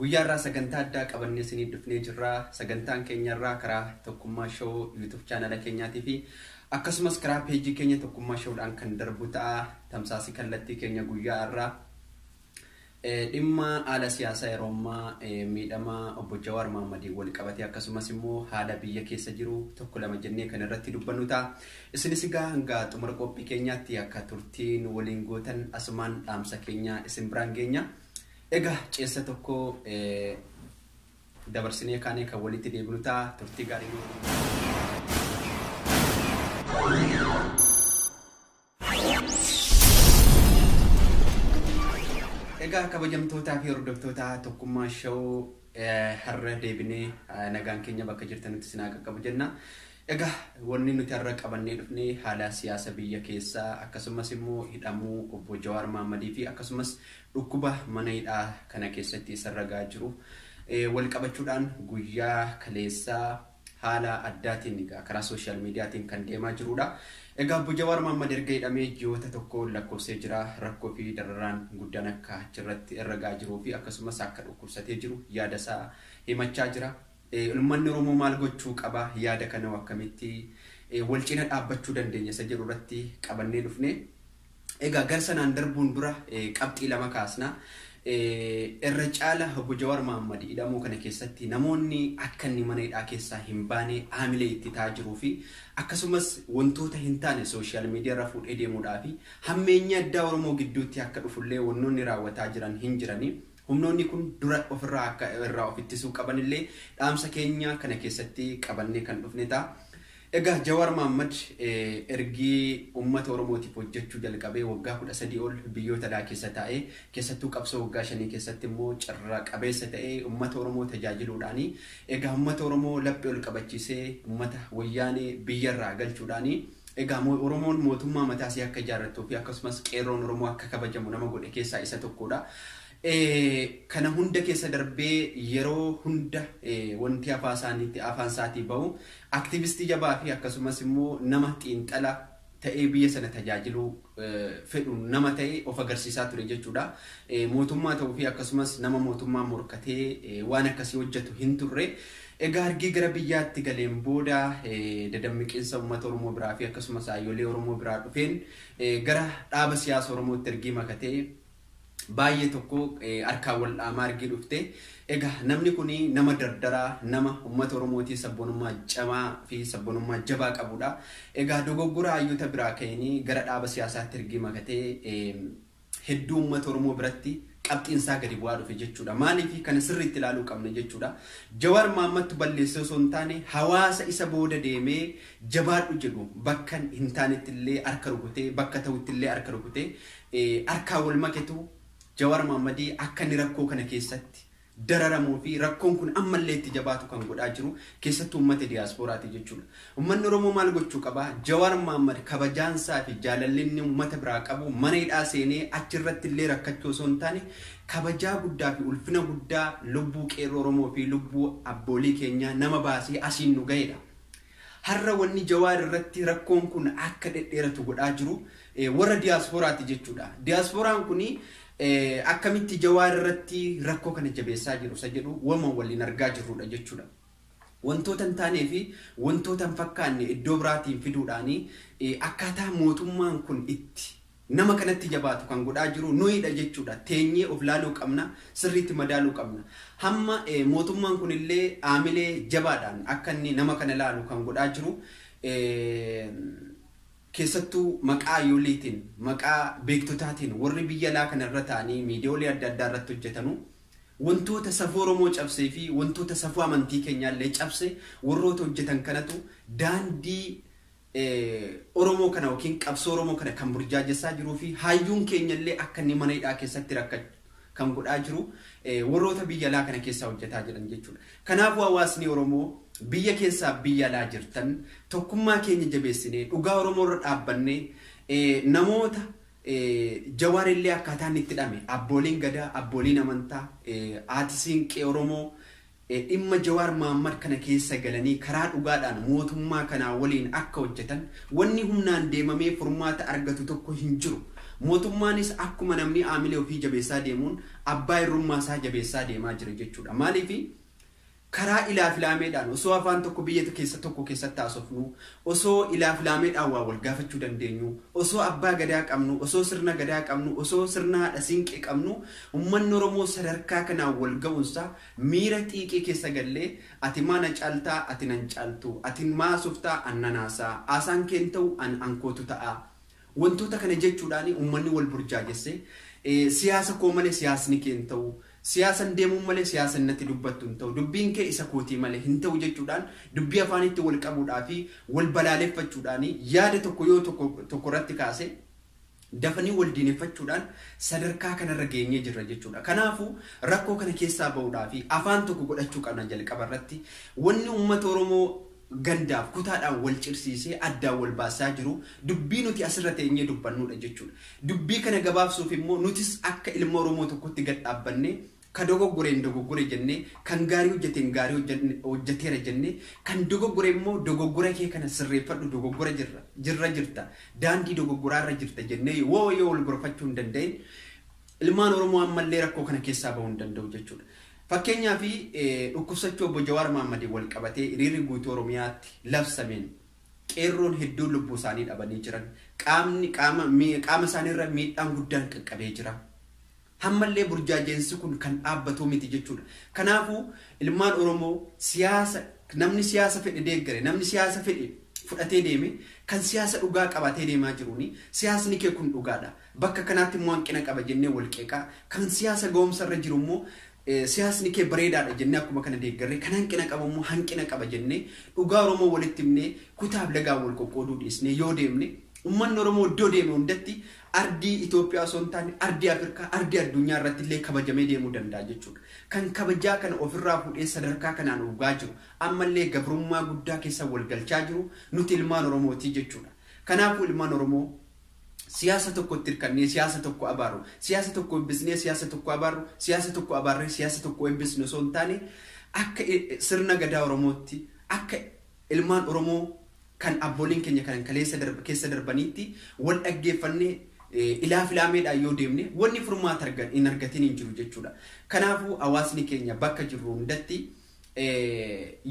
Guyyaa irraa sagantaa addaa qabannee isiniif dhufnee jirra. Sagantaan keenya irraa karaa Tokkummaa Show YouTube chaanala keenyaatii fi akkasumas karaa peejii keenya Tokkummaa Show dhaan kan darbu ta'a. Tamsaasii kallattii keenya guyyaa irraa dhimma haala siyaasaa yeroo ammaa miidhama obbo Jawaar Mahammadiin wal qabatee akkasumas immoo haala biyya keessa jiru tokko lama jennee kan irratti dubbannu ta'a. Isinis egaa hanga xumura qophii keenyaatti akka turtii nu waliin gootan asumaan dhaamsa keenya isin biraan geenya. Egaa ceessa tokko dabarsinee kaanee kan walitti deebinu ta'a turtii gaarii nu Egaa kabajamtootaa fi hordoftoota tokkummaa shawuu Har'a deebinee nagaan keenya bakka jirtanitti isin haa qaqqabu jenna. Egaa wanni nuti har'a qabannee dhufne haala siyaasa biyya keessaa akkasumas immoo hidhamuu obbo Jawaar Maammadii fi akkasumas dhukkuba mana hidhaa kana keessatti isarra gahaa jiru wal qabachuudhaan guyyaa kaleessaa haala addaatiin egaa karaa social mediatiin kan deemaa jiruudha. Egaa Obbo Jawaar Mahaammad erga hidhamee ji'oota tokko lakkoofsee jira. Rakkoo fi dararaan guddaan akka achirratti irra ga'aa jiruu fi akkasumas akka dhukkubsatee jiru yaada isaa himachaa jira. Uummanni Oromoo maal gochuu qaba? Yaada kana akkamitti wal cina dhaabbachuu dandeenya isa jedhu irratti qabannee dhufne. Egaa gar sanaan darbuun dura qabxii lama kaasna. Irra caala Obbo Jawaar Mahaammad hidhamuu kana keessatti namoonni akka inni mana hidhaa keessaa hin baane haamilee itti ta'aa jiruu fi akkasumas wantoota hin taane sooshaal miidiyaa irra fuudhee deemuudhaa fi hammeenyi addaa Oromoo gidduutti akka dhufullee wannoonni raawwataa jiran hin jirani. Humnoonni kun dura ofirraa akka irraa of ittisuu qabanillee dhaamsa keenya kana keessatti qabannee kan dhufne ta'a. Egaa Jawaar Mahaammad ergi ummata Oromootiif hojjechuu jalqabee waggaa 13 ol biyyoota alaa keessa taa'ee, keessattuu qabsoo waggaa shanii keessatti immoo carra qabeessa ta'ee ummata Oromoo tajaajiluudhaani. Egaa ummata Oromoo laphe ol qabachiisee ummata Wayyaanee biyya irraa galchuudhaani. Egaa Oromoon mootummaa mataa isii akka ijaarrattuu fi akkasumas Qeerroon Oromoo akka kabajamu nama godhe keessaa isa tokkoodha. Kana hunda keessa darbee yeroo hunda wanti afaa isaaniitti afaan isaatii bahu Activistii jabaa fi akkasumas immoo nama xiinxala ta'ee biyya sana tajaajiluu fedhu nama ta'e of agarsiisaa ture jechuudha. Mootummaa ta'uu fi akkasumas nama mootummaa morkatee waan akkasii hojjetu hin turre. Egaa argii gara biyyaatti galeen booda dadammiqiinsa uummata Oromoo biraa fi akkasumas haayyolee Oromoo biraa dhufeen gara dhaaba siyaasa Oromootti ergii makatee baay'ee tokko harkaan wal dhaamaa argee dhufte. Egaa namni kun nama dardaraa, nama uummata Oromootii sabboonummaa cimaa fi sabboonummaa jabaa qabudha. Egaa dogoggora hayyoota biraa ka'een gara dhaaba siyaasaatti ergii makatee hedduu uummata Oromoo biratti qabxiin isaa gadi bu'aa dhufe jechuudha. Maaliif kana sirriitti ilaaluu qabna jechuudha. Jawaar Maammattu balleessee osoo hin taane hawaasa isa booda deemee jabaadhu jedhu bakka hin taanetti illee harka rukutee bakka ta'utti illee harka rukutee harkaa wal maketu Jawar Mohammadi akka inni rakkoo kana keessatti dararamuu fi rakkoon kun amma illee itti jabaatu kan godhaa jiru keessattuu uummata Diaspora ti jechuu dha. Uummanni Oromoo maal gochuu qaba? Jawar Mohammad kabajaan isaa fi jaalalli inni uummata biraa qabu mana hidhaa seenee achi irratti illee rakkachuu osoo hin taane kabajaa guddaa fi ulfina guddaa lubbuu qeerroo Oromoo fi lubbuu abboolii keenyaa nama baasee asiin nu gahee dha. Har'a wanni Jawaar irratti rakkoon kun akka dhedheeratu godhaa jiru warra diyaasporaati jechuudha. Diyaaspooraan kun akkamitti Jawaar irratti rakkoo kana jabeessaa jiru isa jedhu wama waliin argaa jirruudha jechuudha. Wantoota hin taanee fi wantoota hin fakkaanne iddoo biraatiin fiduudhaan akkaataa mootummaan kun itti Nama kanatti jabaatu kan godhaa jiru nuyidha jechuudha. Teenyee of laaluu qabna, sirriitti madaaluu qabna. Hamma mootummaan kunillee aamilee jabaadhaan akka inni nama kana laalu kan godhaa jiru keessattuu maqaa yooliitiin, maqaa beektotaatiin warri biyya alaa kana irra taa'anii miidiyoolee adda addaa irratti hojjetanu wantoota safuu Oromoo cabsee fi wantoota safuu amantii keenyaallee cabse warroota hojjetan kanatu daandii Oromoo kana yookiin qabsoo Oromoo kana kan burjaajessaa jiruu fi hayyuun keenya illee akka inni mana hidhaa keessatti rakkatu kan godhaa jiru warroota biyya alaa kana keessaa hojjetaa jiran jechuudha. Kanaafuu hawaasni Oromoo biyya keessaa biyya alaa jirtan tokkummaa keenya jabeessinee dhugaa Oromoo irra dhaabbannee namoota Jawaar illee akkaataa inni itti dhame abbooliin gadaa, abbooliin amantaa, haati siinqee Oromoo Dhimma Jawaar Mahaammad kana keessa galanii karaa dhugaadhaan mootummaa kanaa waliin akka hojjetan wanni humnaan deemamee furmaata argatu tokko hin jiru. Mootummaanis akkuma namni aamilee ofii jabeessaa deemuun abbaa irrummaa isaa jabeessaa deemaa jira jechuudha. Maaliif karaa ilaafilaameedhaan osoo afaan tokko biyya keessa tokko keessatti haasofnuu, osoo ilaafilaameedhaan waa wal gaafachuu dandeenyuu, osoo abbaa gadaa qabnuu, osoo sirna gadaa qabnuu, osoo sirna haadha siinqee qabnuu ummanni Oromoo sadarkaa kanaan wal ga'uun isaa Miira xiiqii keessa gallee Ati maa na caaltaa ati nan caaltu Ati maa haasoftaa an nan haasa'a Haasaan kee hin ta'u an ankootu ta'a Wantoota kana jechuudhaan ummanni wal burjaajesse Siyaasa koo malee siyaasni kee hin ta'u Siyaasan deemuun malee siyaasan natti dubbattu hin ta'u Dubbiin kee isa kootii malee hin ta'u jechuudhaan dubbii afaaniitti wal qabuudhaa fi wal balaaleffachuudhaan yaada tokko yoo tokko tokko irratti kaase Dafanii wal diineffachuudhaan sadarkaa kanarra geenyee jirra jechuudha. Kanaafuu rakkoo kana keessaa ba'uudhaaf afaan tokko godhachuu qabna jalqaba irratti. Wanni uummata Oromoo gandaaf kutaadhaan wal cirsiisee addaan wal baasaa jiru dubbii nuti asirra teenyee dubbannuudha jechuudha. Dubbii kana gabaabsuuf immoo nutis akka ilma Oromoo tokkotti gad dhaabbannee Ka dogoggore hin dogoggore jennee, kan gaarii hojjate hin gaarii hojjatne, hojjateera jennee, kan dogoggore immoo dogoggora kee kana sirreeffadhu dogoggora jirra, jirra jirta, daandii dogoggoraa irra jirta jennee yoo yoo wal gorfachuu hin danda'in ilmaan Oromoo ammallee rakkoo kana keessaa bahuu hin danda'u jechuudha. Fakkeenyaaf dhukkubsachuu obbo Jawaar Mahaammadiin wal qabatee hiriirri guutuu Oromiyaatti labsameen qeerroon hedduun lubbuu isaanii dhabanii jiran, qaamni qaama, mi- qaama isaanii irra miidhaan guddaan qaqqabee jira. Hammallee burjaaja'insi kun kan dhaabbatuu miti jechuudha. Kanaafuu ilmaan Oromoo siyaasa namni siyaasa fedhe deeggare, namni siyaasa fedhe fudhatee deeme kan siyaasa dhugaa qabaatee deemaa jiruuni siyaasni kee kun dhugaadha. Bakka kanaatti immoo hanqina qaba jennee wal qeeqaa, kan siyaasa ga'umsa irra jiru immoo siyaasni kee bareedaadha jennee akkuma kana deeggarree kan hanqina qabu immoo hanqina qaba jennee dhugaa Oromoo walitti himnee kutaaf lagaan wal qoqqooduu dhiisnee yoo deemne ummanni Oromoo iddoo deeme hundatti Ardii Itoophiyaa osoo hin taane ardii Afirkaa, ardii addunyaa irratti illee kabajamee deemuu danda'a jechuu dha. Kan kabajaa kana of irraa fuudhee sadarkaa kanaan uugaa jiru, amma illee gabrummaa guddaa keessa wal galchaa jiru nuti ilmaan Oromoo ti jechuu dha. Kanaafuu ilmaan Oromoo siyaasa tokkotti hirkannee siyaasa tokko abaarru, siyaasa tokko eebbisnee siyaasa tokko abaarru, siyaasa tokko abaarree siyaasa tokko eebbisnu osoo hin taane akka sirna Gadaa Oromootti, akka Ilmaan Oromoo kan abbooliin keenya kan kaleessa darbe keessa darbaniitti wal dhaggeeffannee ilaa filaameedhaan yoo deemne wanni furmaata argan hin argatiin hin jiru jechuudha. Kanaafuu hawaasni keenya bakka jirru hundatti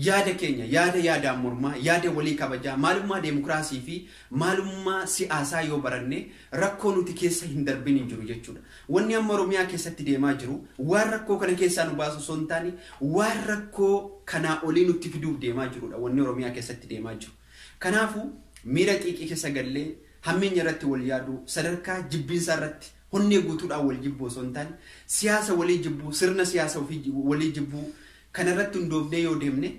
yaada keenya yaada yaadaan mormaa yaada walii kabajaa maalummaa deemokiraasii fi maalummaa siyaasaa yoo baranne Rakkoo nuti keessa hin darbin hin jiru jechuudha. Wanni amma Oromiyaa keessatti deemaa jiru waan rakkoo kana keessaa nu baasu osoo hin taane waan rakkoo kanaa olii nutti fiduuf deemaa jirudha wanni Oromiyaa keessatti deemaa jiru. Kanaafu miira xiiqii keessa gallee hammeenya irratti wal yaaduu sadarkaa jibbiinsaa irratti honnee guutuudhaan wal jibbuu osoo hin taane siyaasa walii jibbuu sirna siyaasa ofii walii jibbuu kana irratti hundoofnee yoo deemne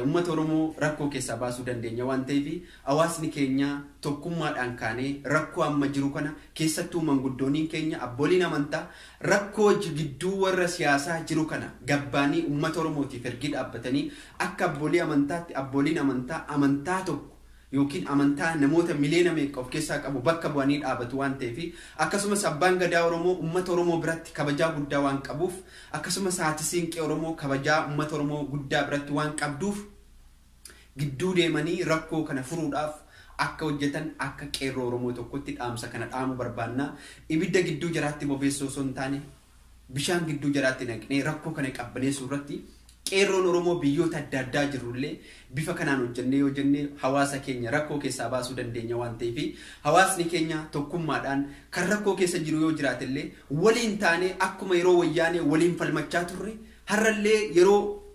Ummata Oromoo rakkoo keessaa baasuu dandeenya waan ta'eef hawaasni keenya tokkummaadhaan kaanee rakkoo amma jiru kana keessattuu manguddooniin keenya abbooliin amantaa rakkoo gidduu warra siyaasaa jiru kana gabbaanii ummata Oromootiif ergii dhaabbatanii akka abboolii amantaatti abbooliin amantaa amantaa tokko ykn amantaa namoota miliyoona meeqa of keessaa qabu bakka bu'anii dhaabatu waan ta'eefi, akkasumas Abbaan Gadaa Oromoo ummata Oromoo biratti kabajaa guddaa waan qabuuf, akkasumas Haati Siinqee Oromoo kabajaa ummata Oromoo guddaa biratti waan qabduuf gidduu deemanii rakkoo kana furuudhaaf akka hojjetan akka Qeerroo Oromoo tokkotti dhaamsa kana dhaamuu barbaanna. Ibidda gidduu jaraatti bobeessuu osoo hin taane bishaan gidduu jaraatti naqnee rakkoo kana qabbaneessuu irratti qeerroon Oromoo biyyoota adda addaa jirru illee bifa kanaan hojjennee yoo jenne hawaasa keenya rakkoo keessaa baasuu dandeenya waan ta'eef hawaasni keenya tokkummaadhaan kan rakkoo keessa jiru yoo jiraate illee waliin taanee akkuma yeroo wayyaanee waliin falmachaa turre har'a illee yeroo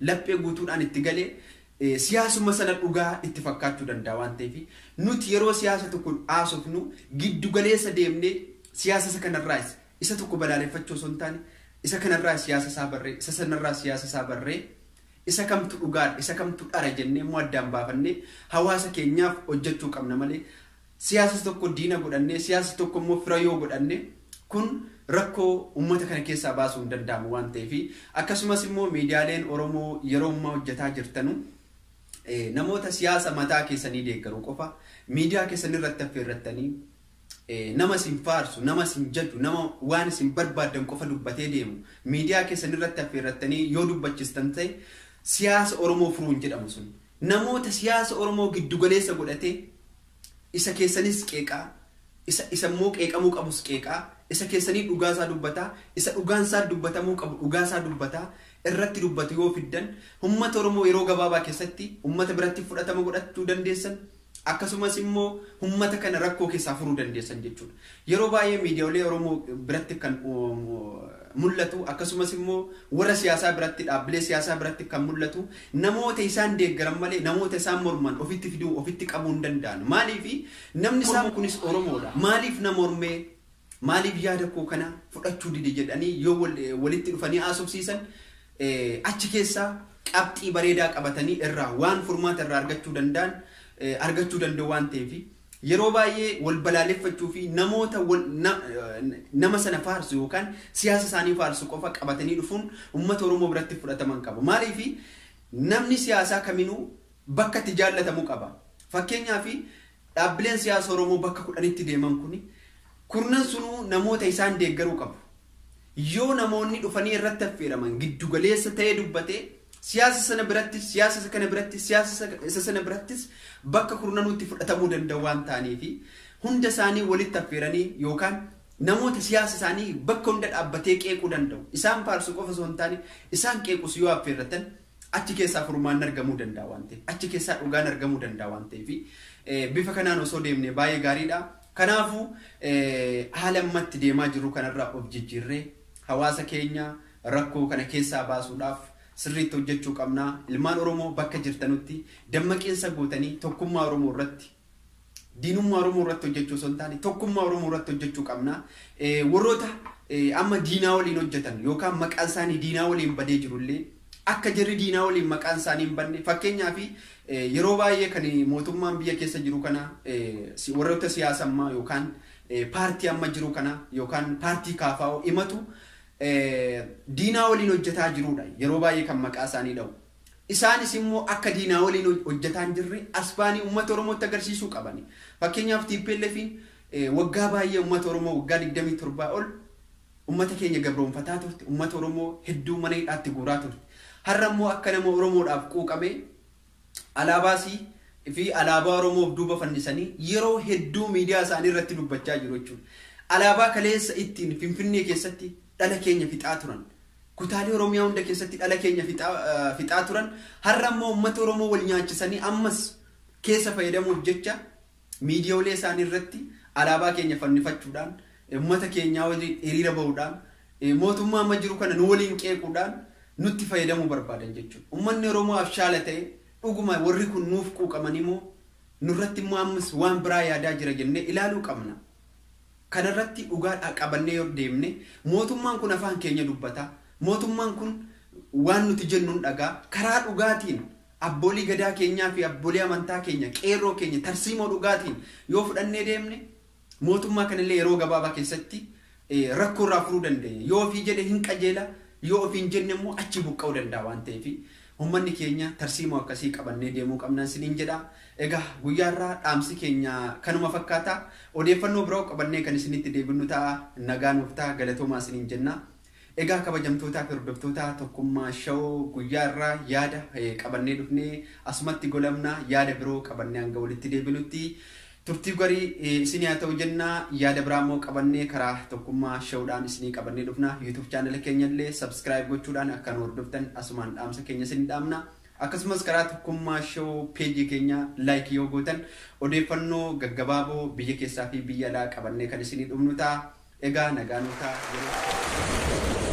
laphee guutuudhaan itti gale siyaasuma sana dhugaa itti fakkaachuu danda'a waan ta'eef nuti yeroo siyaasa tokko haasofnu giddu galeessa deemnee siyaasa isa kanarraas isa tokko balaaleffachuu osoo hin taane isa kanarraa siyaasa isaa barree isa sanarraa siyaasa isaa barree isa kamtu dhugaadha isa kamtu dhara jennee immoo addaan baafannee hawaasa keenyaaf hojjechuu qabna malee Siyaasa tokko diina godhannee, siyaasa tokko immoo fira yoo godhanne, kun rakkoo uummata kana keessaa baasuu hin danda'amu waan ta'eef, akkasumas immoo miidiyaaleen Oromoo yeroo ammaa hojjetaa jirtanu, namoota siyaasa mataa keessanii deeggaru qofa miidiyaa keessan irratti affeerrattanii, nama isin faarsu, nama isin jaju, nama waan isin barbaaddan qofa dubbatee deemu miidiyaa keessan irratti affeerrattanii yoo dubbachistan ta'e, siyaasa Oromoo furuu hin jedhamu sun. Namoota siyaasa Oromoo giddu galeessa godhatee isa keessanis qeeqaa, isa isa immoo qeeqamuu qabus qeeqaa, isa keessanii dhugaa isaa dubbataa, isa dhugaan isaa dubbatamuu qabu dhugaa isaa dubbataa irratti dubbatu yoo fiddan, ummata Oromoo yeroo gabaabaa keessatti ummata biratti fudhatama godhachuu dandeessan. Akkasumas immoo ummata kana rakkoo keessaa furuu dandeessan jechuudha. Yeroo baay'ee miidiyaolee Oromoo biratti kan mul'atu akkasumas immoo warra siyaasaa biratti dhaabbilee siyaasaa biratti kan mul'atu namoota isaan deeggaran malee namoota isaan morman ofitti fiduu ofitti qabuu hin danda'an. Maaliif namni isaan kunis Oromoodha. Maaliif na mormee? Maaliif yaada koo kana fudhachuu dide jedhanii yoo walitti dhufanii haasofsiisan achi keessaa qabxii bareedaa qabatanii irraa waan furmaata irraa argachuu danda'an argachuu danda'u waan ta'eef yeroo baay'ee wal balaaleffachuu fi namoota nama sana faarsu yookaan siyaasa isaanii faarsu qofa qabatanii dhufuun uummata Oromoo biratti fudhataman qaba. Maaliif namni siyaasaa kaminuu bakka itti jaallatamu qaba. Fakkeenyaaf, dhaabbileen siyaasa Oromoo bakka kudhanitti deeman kun kurnan sunuu namoota isaan deeggaruu qabu. Yoo namoonni dhufanii irratti affeeraman giddu galeessa ta'ee dubbate, siyaasa sana birattis, siyaasa isa kana birattis, siyaasa isa sana birattis bakka kurnanuutti fudhatamuu danda'u waan ta'aniifi hunda isaanii walitti affeeranii yookaan namoota siyaasa isaanii bakka hunda dhaabbatee qeequu danda'u, isaan faarsu qofa osoo hin taane isaan qeequs yoo affeerratan, Achi keessaa furmaanni argamuu danda'a waan ta'eef, achi keessaa dhugaan argamuu danda'a waan ta'eef, bifa kanaan osoo deemne baay'ee gaariidha. Kanaafuu haala amma itti deemaa jirru kanarraa of jijjiirree hawaasa keenya rakkoo kana keessaa baasuudhaaf sirriitti hojjechuu qabna. Ilmaan Oromoo bakka jirtanutti dammaqiinsa gootanii tokkummaa Oromoo irratti Diinummaa Oromoo irratti hojjechuu osoo hin taane tokkummaa Oromoo irratti hojjechuu qabna. Warroota amma diinaa waliin hojjetan yookaan maqaan isaanii diinaa waliin badee jirullee akka jarri diinaa waliin maqaan isaanii hin badne fakkeenyaaf yeroo baay'ee kan mootummaan biyya keessa jiru kana warroota siyaasa ammaa yookaan paartii amma jiru kana yookaan paartii kaafaa'oo himatu diinaa waliin hojjetaa jirudha yeroo baay'ee kan maqaa isaanii dha'u. Isaanis immoo akka diinaa waliin hojjetaa hin jirre as ba'anii uummata Oromootti agarsiisuu qabani. Fakkeenyaaf TPLFiin waggaa baay'ee uummata Oromoo waggaa 27 ol uummata keenya gabroomfataa turte, uummata Oromoo hedduu mana hidhaatti guuraa turte. Har'a immoo akka nama Oromoodhaaf quuqamee alaabaa isii fi alaabaa Oromoo of duuba fannisanii yeroo hedduu miidiyaa isaanii irratti dubbachaa jiru jechuudha. Alaabaa kaleessa ittiin Finfinnee keessatti dhala keenya fixaa turan, Kutaalee Oromiyaa hunda keessatti dhala keenya fixaa turan har'a immoo uummata Oromoo wal nyaachisanii ammas keessa fayyadamuuf jecha miidiyoolee isaanii irratti alaabaa keenya fannifachuudhaan uummata keenyaa waliin hiriira bahuudhaan mootummaa amma jiru kana nu waliin qeequudhaan nutti fayyadamuu barbaadan jechuudha. Uummanni Oromoo abshaala ta'e dhuguma warri kun nuuf quuqamanii moo nurratti immoo ammas waan biraa yaadaa jira jennee ilaaluu qabna. kanarratti dhugaadhaa qabannee yoo deemne mootummaan kun afaan keenya dubbata, mootummaan kun waan nuti jennu hin dhaga'a, karaa dhugaatiin abboolii gadaa keenyaa fi abboolii amantaa keenya, qeerroo keenya tarsiimoo dhugaatiin yoo fudhannee deemne mootummaa kanallee yeroo gabaabaa keessatti rakkoo irraa furuu dandeenya. Yoo ofii jedhe hin qajeela, yoo ofii hin jenne immoo achii buqqa'uu danda'a waan ta'eef. Ummanni keenya tarsiimoo akkasii qabannee deemuu qabna isiniin jedha. Egaa guyyaa har'aa dhaamsi keenya kanuma fakkaata. Odeeffannoo biroo qabannee kan isinitti deebinnu ta'a. Nagaa nuuf ta'a galatoomaa isiniin jenna. Egaa kabajamtootaa fi hordoftootaa Tokkummaa Show guyyaa irraa yaada qabannee dhufnee asumatti golabna. Yaada biroo qabannee hanga walitti deebinutti Turtii garii isinii haa ta'u jenna. Yaada biraa immoo qabannee karaa Tokkummaa Show dhaan isinii qabannee dhufna. Youtube channel keenya illee subscribe gochuudhaan akka nu hordoftan asumaan dhaamsa keenya isinii dhaamna. Akkasumas karaa Tokkummaa Show page keenya like yoo gootan odeeffannoo gaggabaaboo biyya keessaa fi biyya alaa qabannee kan isinii dhufnu ta'a. Egaa nagaan bitaa yeroo